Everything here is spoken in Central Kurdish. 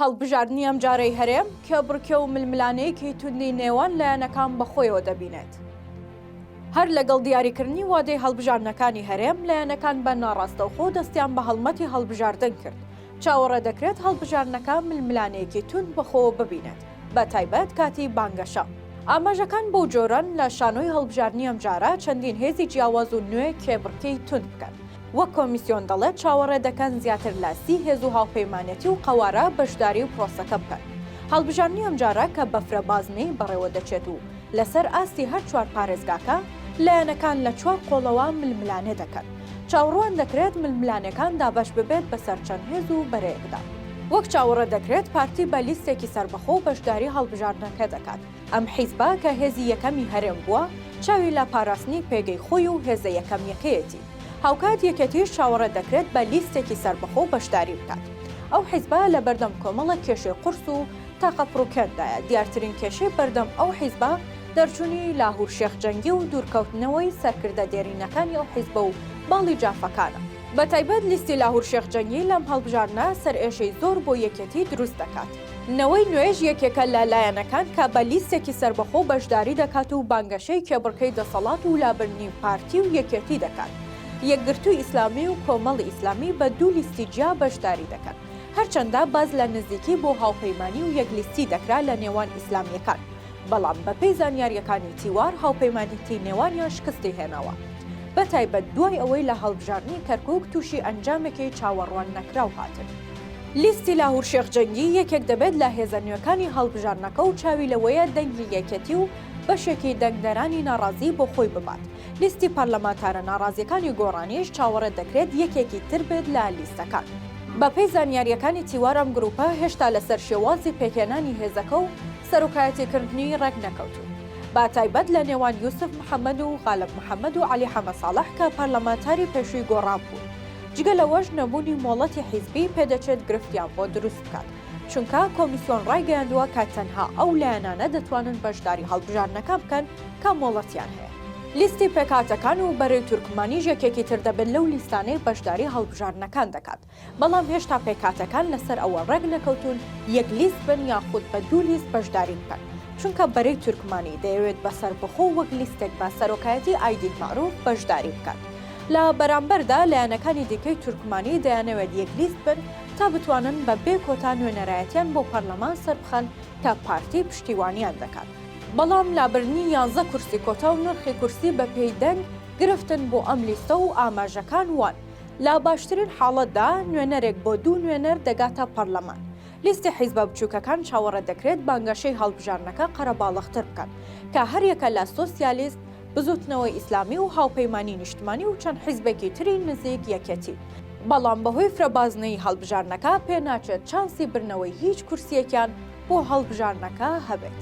هەڵبژاردنی ئەمجارەی هەرێم کە بڕکێ و ململانێیەکی توندی نێوان لایەنەکان بەخۆیەوە دەبینێت، هەر لەگەڵ دیاریکردنی وادەی هەڵبژاردنەکانی هەرێم، لایەنەکان بە ناڕاستەوخۆ دەستیان بە هەڵمەتی هەڵبژاردن کرد، چاوەڕێدەکرێت هەڵبژاردنەکە ململانێیەکی توند بەخۆوە ببینێت، بەتایبەت کاتی بانگەشە. ئاماژەکان بەو جۆرەن، لە شانۆی هەڵبژاردنی ئەمجارە چەندین هێزی جیاواز و نوێ کێبڕکێی توند بکەن، وەک کۆمیسیۆن دەڵێت، چاوەڕێ دەکەن زیاتر لە سی هێز و هاوپەیمانێتی و قەوارە بەشداری و پرۆسەکە بکەن. هەڵبژاردنی ئەمجارە کە بەفرە بازنەی بەڕێوە دەچێت و لەسەر ئاستی هەر چوار پارێزگاکە، لایەنەکان لە چوار قۆڵەوە ململانێ دەکەن. چاوڕوان دەکرێت ململانێکان دابەش ببێت بەسەر چەند هێز و بەرەیەکدا. وەک چاوەڕێ دەکرێت پارتی بە لیستێکی سەربەخۆ بەشداری هەڵبژاردنەکە دەکات، ئەم حیزبە کە هێزی یەکەمی هەرێم بووە، چاوی لە پاراستنی پێگەی خۆی و هێزە یەکەمییەکەیەتی. هاوکات یەکێتیش چاوەڕێ دەکرێت بە لیستێکی سەربەخۆ بەشداری بکات. ئەو حیزبە لە بەردەم کۆمەڵێک کێشەی قورس و تاقە پڕوکێندایە، دیارترین کێشەی بەردەم ئەو حیزبە دەرچوونی لاهور شێخ جەنگی و دوورکەوتنەوەی سەرکردە دێرینەکانی ئەو حیزبە و باڵی جافەکانە. بەتایبەت لیستی لاهور شێخ جەنگی لەم هەڵبژاردنە سەرئێشەی زۆر بۆ یەکێتی دروست دەکات. نەوەی نوێش یەکێکە لە لایەنەکان کە بە لیستێکی سەربەخۆ بەشداری دەکات و بانگەشەی کێبڕکێی دەسەڵات و لابردنی پارتی و یەکێتی دەکات. یەکگرتووی ئیسلامی و کۆمەڵی ئیسلامی بە دوو لیستی جیا بەشداری دەکەن. هەرچەندە باس لە نزیکی بۆ هاوپەیمانی و یەک لیستی دەکرا لە نێوان ئیسلامیەکان، بەڵام بە پێی زانیاریەکانی تیوار هاوپەیمانیتی نێوانیان شکستی هێناوە. بە تایبەت دوای ئەوەی لە هەڵبژاردنی کەرکوک تووشی ئەنجامێکی چاوەڕوان نەکراو هاتن. لیستی لاهور شێخ جەنگی یەکێک دەبێت لە هێزە نوێکانی هەڵبژاردنەکە و چاوی لەوەیە دەنگی یەکێتی و بەشێکی دەنگدەرانی ناڕازی بۆ خۆی ببات. لیستی پەرلەمانتارە ناڕازییەکانی گۆڕانیش چاوەڕێ دەکرێت یەکێکی تر بێت لە لیستەکان. بەپێی زانیارییەکانی تیوار ئەم گرووپە هێشتا لەسەر شێوازی پێکهێنانی هێزەکە و سەرۆکایەتیکردنی ڕێک نەکەوتوون بە تایبەت لە نێوان یوسف محەمەد و غالب محەمەد و عەلی حەمەساڵح کە پەرلەمانتاری پێشووی گۆڕان بوون جگە لەوەش نەبوونی مۆڵەتی حیزبی پێدەچێت گرفتیان بۆ دروست بکات، چونکە کۆمیسیۆن ڕایگەیاندووە کە تەنها ئەو لایەنانە دەتوانن بەشداری هەڵبژاردنەکان بکەن کە مۆڵەتیان هەیە. لیستی پێکهاتەکان و بەرەی تورکمانیش یەکێکی تر دەبێت لەو لیستانەی بەشداری هەڵبژاردنەکان دەکات، بەڵام هێشتا پێکهاتەکان لەسەر ئەوە ڕێکنەکەوتوون یەک لیست بن یاخود بە دوو لیست بەشداری بکەن، چونکە بەرەی تورکمانی دەیەوێت بە سەربەخۆ وەک لیستێک بە سەرۆکایەتی ئایدین مەعروف بەشداری بکات. لە بەرامبەردا لایەنەکانی دیکەی تورکمانی دەیانەوێت یەکلیست بن تا بتوانن بە بێ کۆتا نوێنەرایەتیان بۆ پەرلەمان سەربخەن کە پارتی پشتیوانیان دەکات، بەڵام لابردنی یانزە کورسی کۆتا و نرخی کورسی بە پێی دەنگ گرفتن بۆ ئەم لیستە و ئاماژەکان وان لە باشترین حاڵەتدا نوێنەرێک بۆ دوو نوێنەر دەگاتە پەرلەمان. لیستی حیزبە بچوکەکان چاوەڕێ دەکرێت بانگەشەی هەڵبژاردنەکە قەرەباڵغتر بکەن کە هەریەکە لە سۆسیالیست، بزوتنەوەی ئیسلامی و هاوپەیمانی نیشتمانی و چەند حیزبێکی تری نزیک یەکێتی، بەڵام بەهۆی فرەبازنەیی هەڵبژاردنەکە پێناچێت چانسی بردنەوەی هیچ کورسییەکیان بۆ هەڵبژاردنەکە هەبێت.